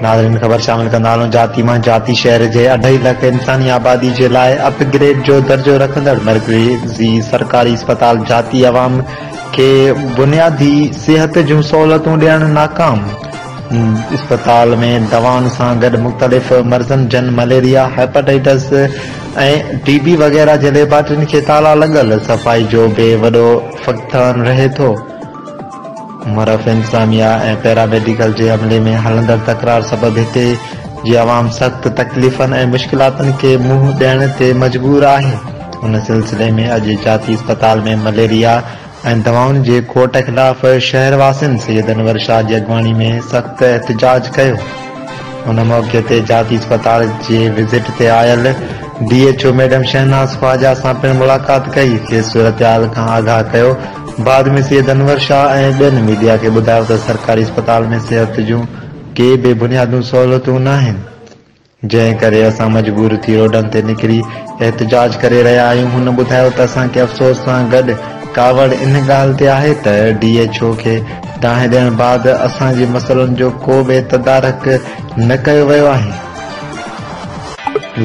ناظرين خبر شامل ڪندا هلون جاتي مان جاتي شهر جي اڍائي لک انساني آبادي جي لاء اپ گريڊ جو درجو رکندڙ مرڪزي سرڪاري اسپتال جاتي عوام کي بنيادي صحت جون سهولتون ڏيڻ ناڪام اسپتال ۾ دوائن سان گڏ مختلف مرضن جن مليريا، هيپاٽائيٽس ۽ ٽي بي وغيره جي ليبارٽرين کي تالا لڳل، صفائي جو به وڏو فقدان رهي ٿو. مرف انتظاميا ۽ پيراميڊيڪل جي عملي ۾ هلندڙ تڪرار سبب هتي جي عوام سخت تڪليفن ۽ مشڪلاتن کي منهن ڏيڻ تي مجبور آهي. ان سلسلي ۾ اڄ جاتي اسپتال ۾ مليريا، ۽ دوائن جي کوٽ خلاف شهر واسين سيد انور شاهه جي اڳواڻي ۾ سخت احتجاج ڪيو ان موقعي تي جاتي اسپتال جي وزٽ تي آيل D H O madam Shahnaz Khawaja سان پڻ ملاقات ڪئي کيس صورتحال کان آگاهه ڪيو بعد ۾ سيد انور شاهه ۽ ٻين ميڊيا کي ٻڌايو ته سرڪاري اسپتال ۾ صحت جون ڪي به بنيادون سهولتون ناهن جنهن ڪري اسان مجبور ٿي روڊن تي نڪري احتجاج ڪري رهيا آهيون، هن ٻڌايو ته اسان کي افسوس سان گڏ ڪاوڙ ان ڳالهه تي آهي ته ڊي ايڇ او کي دانهن ڏيڻ بعد اسان جي مسئلن جو ڪو به تدارڪ نه ڪيو ويو آهي.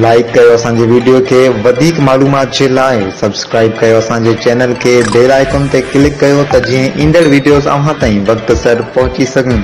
لائيڪ ڪيو اسان جي ويڊيو کي وڌيڪ معلومات جي لاء سبسڪرائيب ڪيو اسان جي چينل کي بيل آئيڪون تي ڪلڪ ڪيو ته جيئن ايندڙ ويڊيوز اوهان تائين وقت سر پهچي سگهن.